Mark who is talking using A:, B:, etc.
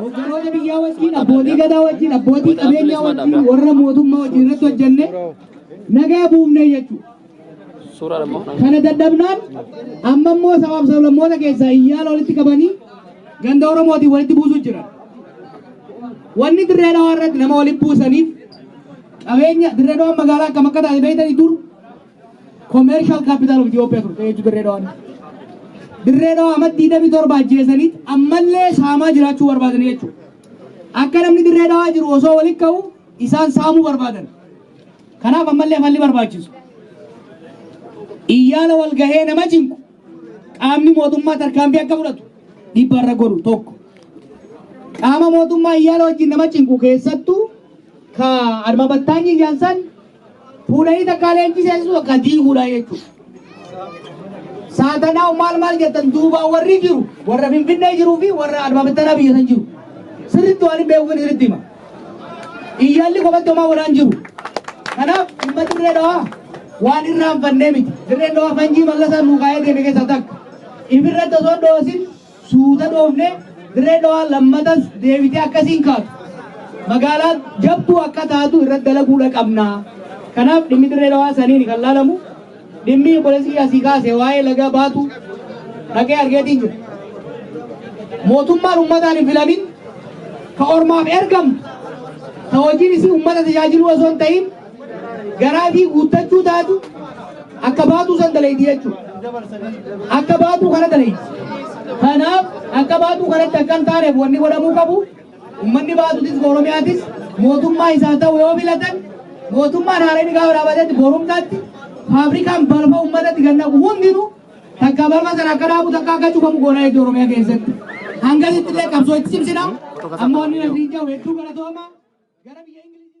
A: Hogganoota biyyaa wajjin, abbootii gadaa wajjin, abbootii qabeenyaa wajjin, warra mootummaa wajjin irratti hojjenne nagaa buufne jechuudha. Kana dadhabnaan amma immoo sabaaf sablammoota keessaa iyyaala walitti qabanii ganda Oromootiin walitti buusuuf jiran. Wanni dirree dhawaa irratti nama walitti buusaniif qabeenya dirree dhawaa magaalaa akkam akka taate beektanii dur Commercial Capital of Ethiopia turte jechuun Dirree Dhawaan. Dirree Dhawaa amma 27 ajjeesaniit ammallee saamaa jiraachuu barbaadanii jechuudha. Akka namni Dirree Dhawaa jiru osoo walitti ka'u isaan saamuu barbaadan. Kanaaf ammallee falli barbaachisu. Iyyaala wal gahee nama cinqu qaamni mootummaa tarkaanfii akka fudhatu dhiibbaa irra godhu tokko. Qaama mootummaa iyyaala wajjin nama cinqu keessattuu ka adma battaanyi iyyaansan Fuudhanii takkaa leenjii seensisuu takkaa diiguudha jechuudha. Saatanaa maal maal jettan duubaan warri jiru warra Finfinnee jiruu fi warra Adbaabattanaa biyya san jiru. Sirriitti waan hin beekuuf sirriitti hima. Iyyaalli kophaatti homaa godhaan jiru. Kanaaf dhimma dirree dhawaa waan irraanfannee miti. Dirreen dhawaa fanjii mallasaa nuu kaa'ee deeme keessaa takka. Ifirratti osoo dhoosin Suuta dhoofnee Dirree Dhawaa lammatas deebitee akkasii hin kaatu. Magaalaa jabduu akka taatu irratti dalaguudha qabna. Kanaaf dhimmi Dirree Dhawaa saniin kan laalamu dhimmi obboleessi asii kaase waa'ee laga baatu dhaqee argeetiin jira. Mootummaan ummataan hin filamin ka ormaaf ergamtu ta hojiin isii ummata tajaajiluu osoo hin ta'in garaa fi guuttachuu taatu akka baatuu san dalayti jechuudha. Akka baatuu kana dalayti. Kanaaf akka baatuu kanatti akka hin taaneef wanni godhamuu qabu ummanni baatutis Oromiyaatis mootummaa isaa ta'u yoo filatan mootummaan haareen gaafa dhaabatetti borumtaatti faabrikaan balfa ummatatti kan naqu hundinuu takka balfa sana akka dhaabu takka akka cufamu goona jechuudha Oromiyaa keessatti. Hangasitti illee qabsoo itti cimsina. Amma wanni nagriin jiru hedduu galatoomaa. Gara biyya Ingiliziitti.